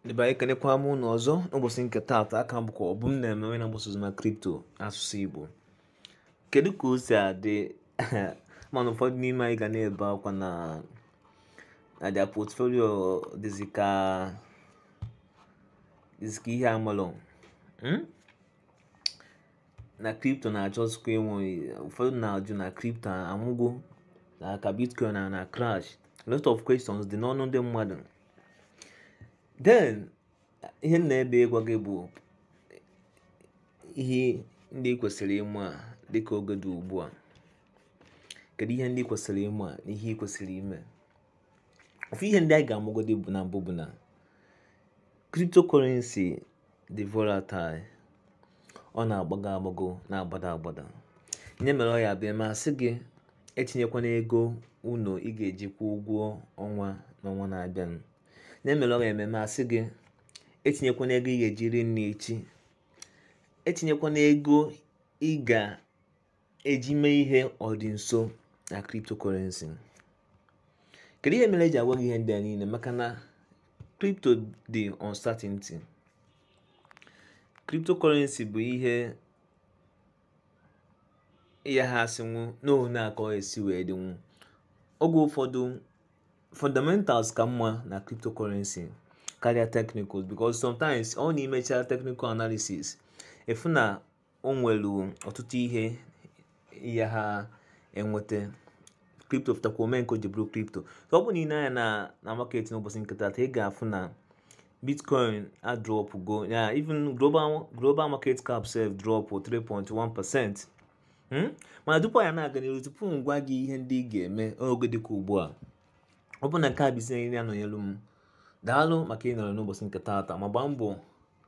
ndị be anyị ekenekwa m ụnụ ọzọ n'ụbọchị nke taata aka bụkwa Obumneme onye na-agbasa ozi maka kripto asụsụ igbo kedu ka o si adị mana ụfọdụ n'ime anyị ga na-ebe akwa na na their portfolio dịzi ka dịzi ka ihe amalụ hmm? na kripto na-achọzikwa ịnwụ ụfọdụ na-ajụ na kripto anwụgo nke a bitcoin na na crash lot of questions dị n'ọnụ ndị mmadụ then ihe m na-ebe ịgwa gị bụ ihe ndị ị kwesịrị ịma dịka oge dị ugbu a kedu ihe ndị ị kwesịrị ịma na ihe ị kwesịrị ime ofu ihe ndị anyị ga-amụgodi na mbụ bụ na cryptocurrency dị volatile ọ na-agbago agbago na-agbada agbada nya mere ọ ya-abịa m asị gị etinyekwana ego ụlọ ị ga-eji kwụọ ụgwọ ọnwa n'ọnwa na-abịanụ nya mere ọ ya-eme m asị gị etinyekwana ego ị ga-eji ri nri echi etinyekwana ego ị ga eji mee ihe ọ dị nso na cryptocurrency kedu ihe mere e ji agwa gị ihe ndị a niile maka na crypto dị uncertain cryptocurrency bụ ihe ị yaha asịnwu n'ohu na ka o si wee dịnwu oge ụfọdụ fundamentals ka mma na cryptocurrency karịa technicals because sometimes ọ na ị mechaa technical analysis ị fụ na o nwere ọtụtụ ihe ị yaha enweta kripto fụtakwa o mee nke o ji bụrụ kripto ọ bụ na ị lee anya na na market n'ụbọchị nke taata ị ga-afụ na bitcoin adropụgo ya even global global market cap sef drop 3.1 percent hmm? mana tupu anyị na-aga n'iru tupu m gwa gị ihe ndị ị ga-eme n'oge dịka ugbu a ọ bụ na nke a bụ izizi ị na-anọnyelu m daalụ maka ịnọrọ n'ụbọchị nke taata ma gbaa mbọ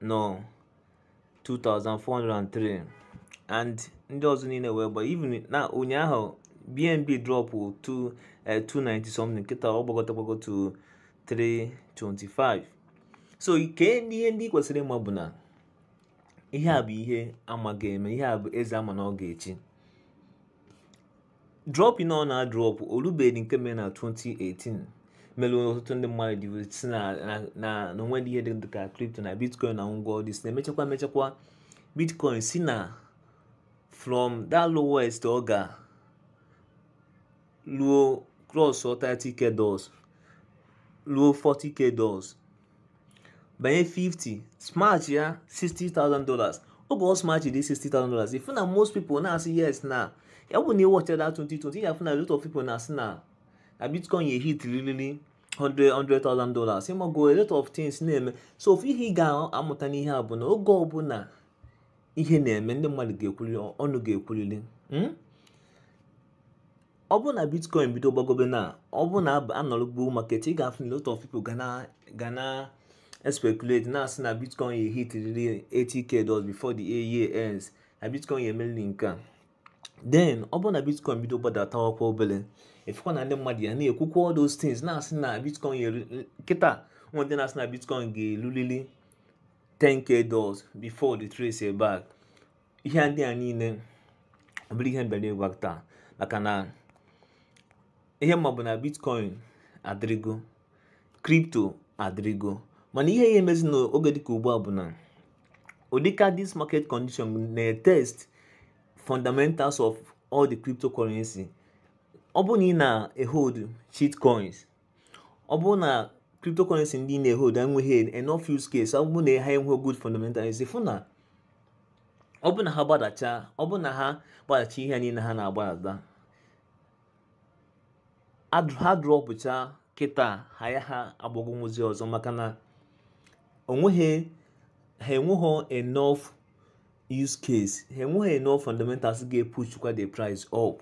nọ 2403 and ndị ọzọ niile wee gba even na ụnyaahụ bnb drop to 290 something kịta ọ gbagota gbago to 325 so ihe ndị ihe ndị ị kwesịrị ịma bụ na ihe a bụ ihe a ma ga-eme ihe a bụ eze a ma na ọ ga-echi drọpụ na ọ na-adrọpụ o lubeghị nke mere na 2018 mere ọtụtụ ndị mmadụ ji sị na na- na na o nwedị ihe dị dị ka kripto na bitcoin na ngwa ọdị si na-emechakwa emechakwa bitcoin si na from that lowest ọ ga ruo cross 30k dollars ruo 40k dollars banye 50 smash ya 60,000 dollars oge ọ smashed 60,000 dollars ị fụ na most people na-asị yes na ya bụ na ị watch that 2020 ị ya-afụ na lot of people na-asị na na bitcoin ya ehitlili 100,000 dollars ị mago a lot of things na-eme so ofu ihe ị ga-amụta n'ihe a bụ na oge ọbụla ihe na-eme ndị mmadụ ga-ekwulili ọnụ ga-ekwulili hmm? ọ bụrụ na bitcoin bido gbagobe na ọ bụrụ na a nọrọ bull market ị ga-afụ na lot of people ga na ga na speculate na-asị na bitcoin ya ehitriri 80k dollars before the year ends na bitcoin ya emeriri nke a then ọ bụrụ na bitcoin bido gbadatakwa obere ị fụkwa na ndị mmadụ ya na-ekwukwa all those things na-asị na bitcoin ya kịta e nwee ndị na-asị na bitcoin ga-elulili 10k dollars before retrace back ihe ndị a niile ọ bụrọ ihe m bịara ịkọwa taa maka na ihe m ma bụ na bitcoin adịrịgo kripto adịrịgo mana ihe ya emezi n'oge dịka ugbu a bụ na ọ dịka this market condition na-etest fundamentals of all the cryptocurrency ọ bụrụ na ị na-ehold shitcoins ọ bụrụ na cryptocurrency ndị ị na-ehold enweghị enough use case ọ bụrụ na ha enweghị good fundamentals ị fụ na ọ bụ na ha gbadacha ọ bụ na ha gbadacha ihe niile ha na-agbadata ha dropucha kịta ha ayaha agbagonwuzi ọzọ maka na o nweghị ha enweghị enough use case ha enweghị enough fundamentals ga-epushukwa the price up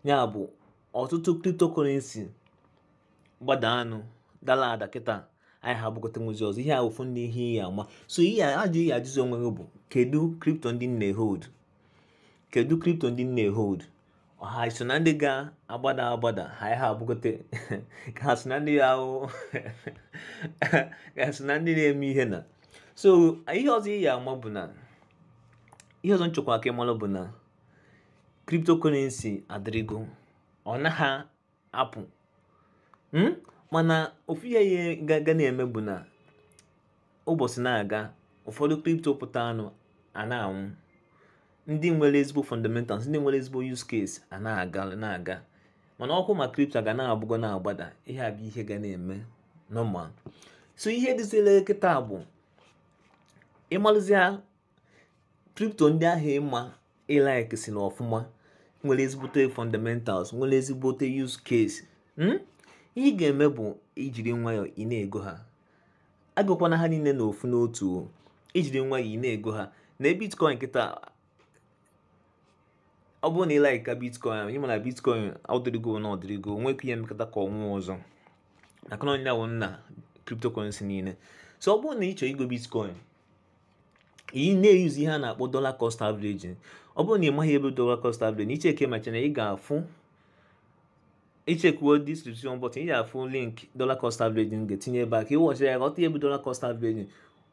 ya bụ ọtụtụ cryptocurrency gbada anụ dala ada kịta ayaha agbagotanwuzi ọzọ ihe a ofu ndị ihe ị ya-ama so ihe ị ya-ajụ ihe ị ya-ajụzi onwe gị bụ kedu kripto ndị m na-ehold kedu kripto ndị m na-ehold ọ ha so na ndị ga-agbada agbada ha ha agbagote ka ha so na ndị ya ahụ ka so na ndị na-eme ihe na so ihe ọzọ ị ya-ama bụ na ihe ọzọ m chọkwa ka ị malụ bụ na cryptocurrency adịrịgo ọ naghị apụ hmm? mana ofu ihe ga na-eme bụ na ụbọchị na-aga ụfọdụ crypto pụtanụ a na-anwụ ndị nwere ezigbo fundamentals ndị nwere ezigbo use case a na-aga na-aga mana okwu maka crypto ga na-agbago na-agbada ihe a bụ ihe ga na-eme normal so ihe dịzila kịta bụ ịmalụzia kripto ndị ahụ ị ma ị like si na ọfụma nwere ezigbote fundamentals nwere ezigbote use case hmm? ihe ị ga-eme bụ i jiri nwayọọ ị na-ego ha egokwana ha niile na ofu n'otu i jiri nwayọọ ị na-ego ha na bitcoin kịta ọ bụrụ na ị like ka bitcoin anyị ma na bitcoin ọdịrịgo na ọdịrịgo nwee ike ihe e mekata ka ọ nwụọ ọzọ maka na ọ ya wụ nna cryptocurrency niile so ọ bụrụ na ị chọrọ igo bitcoin ị na-euse ihe a na-akpọ dollar cost averaging ọ bụrụ na ị maghị ihe bụ dollar cost averaging ị checkie my channel ị ga-afụ ị checkuo distribution button ị ga-afụ link dollar cost averaging ga-etinye ebe a ka ị watchara ya ghọta ihe bụ dollar cost averaging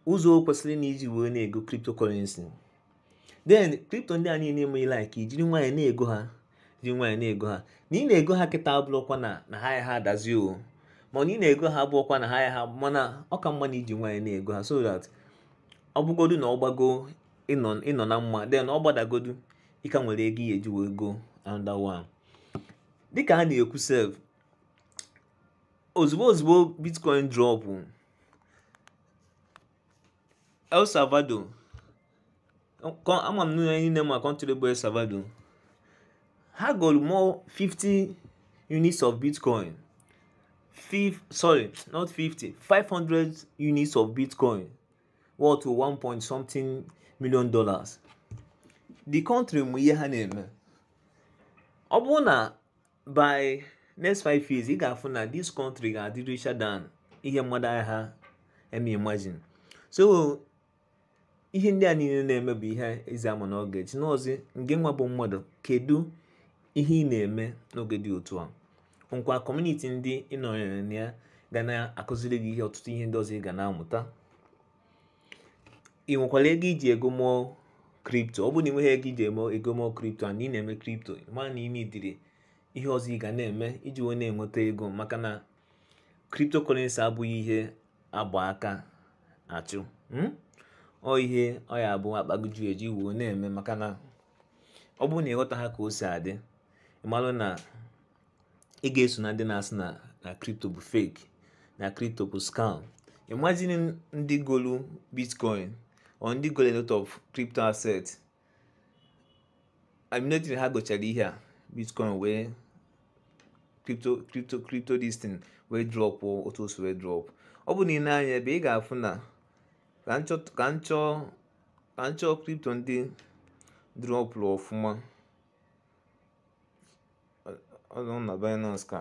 ụzọ o kwesịrị na i ji wee na-ego cryptocurrency then crypto ndị a niile ị ma ị like i jiri nwayọọ na-ego ha ji nwayọọ na-ego ha na ị na-ego ha kịta abụrọkwa na na ha ya ha adazi o mana ị na-ego ha abụrọkwa na ha ya ha mana ọ ka mma na i ji nwayọọ na-ego ha so that ọ bụgodu na ọ gbago ị nọ na mma then ọ gbadagodu ị ka nwere ego ị ya-eji wee go another one dịka a na-ekwu sef ozugbo ozugbo bitcoin drop El Salvador ama m na anyị niile ma kọntrị bụ El Salvador ha golu more 50 units of bitcoin Five, sorry not 50 500 units of bitcoin worth 1 point something million dollars the country ma ihe ha na-eme ọ bụrụ na by next five years ị ga-afụ na this country ga-adị richer than ihe mmadụ agha eme imagine so ihe ndị a niile na-eme bụ ihe ezi ama na ọ ga-eji n'ọzi ngị nwa bụ mmadụ kedu ihe ị na-eme n'oge dị otu a nkwa kọmuniti ndị ị nọnyere na ya ga na-akụziri gị ihe ọtụtụ ihe ndị ọzọ ị ga na-amụta ị nwekwara ego i ji ego ụmụ kripto ọ bụrụ na ị nweghị ego i ji eme ego ụmụ kripto a na ị na-eme kripto ma na ime ụdịrị ihe ọzọ ị ga na-eme iji wee na-enweta ego maka na kripto kọrensi abụghị ihe a gba aka achụ hmm? ọ ihe ọ ya bụ akpa gị ju eju i wee na-eme maka na ọ bụrụ na ị ghọtaha ka o si adị ị malụ na ị ga-eso na ndị na-asị na na kripto bụ fake na kripto bụ scam imagine ndị golu bitcoin or ndị golu a lot of crypto asset immediately ha gochara ihe a bitcoin wee crypto crypto crypto this thing wee drop otu o si wee drop ọ bụ na ị nee anya ebe a ị ga-afụ na ka m chọọ ka m chọọ ka m chọọ crypto ndị dropụrụ ọfụma ọzọ na Binance ka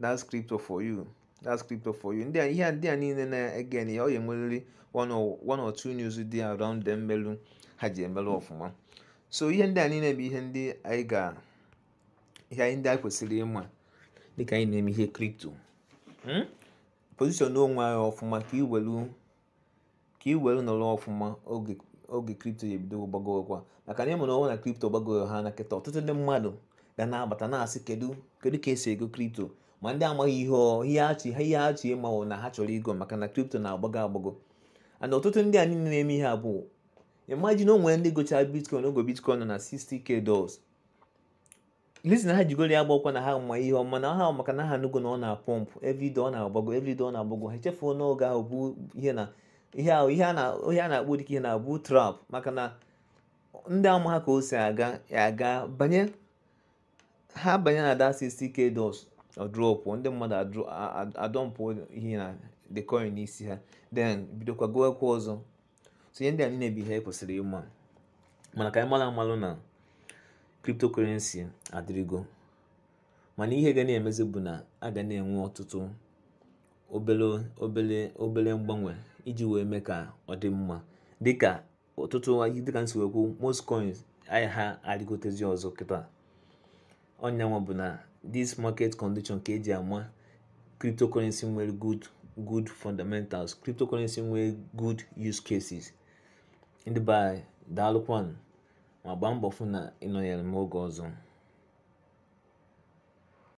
that's crypto for you that's crypto for you ndị a ihe a ndị a niile na-ege na ya ọ ga-enwerịrị one or one or two news dị around them melu ha ji emelụ ọfụma so ihe ndị a niile bụ ihe ndị anyị ga ihe anyị ndị anyị kwesịrị ịma dịka anyị na-eme ihe crypto position onwe anyị ọfụma ka i welu ka ị were nọrọ ọfụma oge oge crypto ya-ebido gbagowekwa maka na ị manụ na crypto gbagowe ha na kịta ọtụtụ ndị mmadụ ga na-abata na-asị kedu kedu ka e si ego crypto ma ndị amaghị ihe ihe achị ha ihe achị ịmanwụ na ha chọrọ igo maka na crypto na-agbago agbago and ọtụtụ ndị a niile na-eme ihe a bụ imagine o nwere ndị gochara bitcoin oge bitcoin nọ na 60k dollars reason ha ji goro ya abụkwa na ha ma ihe ọma na ha maka na ha nụgo na ọ na-apọmpụ everyday ọ na-agbago everyday ọ na-agbago ha echefuo n'oge ahụ bụ ihe na ihe ahụ ihe a na-akpọ dịka ihe na-abụ trap maka na ndị amaha ka o si aga ga-abanye ha banye na that 60k dollars ọ drop ndị mmadụ adọmpụ ihe na the coin n'isi ha then bidokwa gowekwa ọzọ so ihe ndị a niile bụ ihe i kwesịrị ịma mana ka anyị mara malụ na cryptocurrency adịrịgo mana ihe ga na-emezi bụ na a ga na-enwe ọtụtụ obele obele obele mgbanwe iji wee mee ka ọ dị mma dịka ọtụtụ dịka m si wee kwu most coins anyị ha arịgotezi ọzọ kịta ọ nyanwa bụ na this market condition ka e ji ama cryptocurrency nwere good good fundamentals cryptocurrency nwere good use cases ndị be anyị daalụkwanụ ma gbaa mbọ fụ na ị nọnyere m oge ọzọ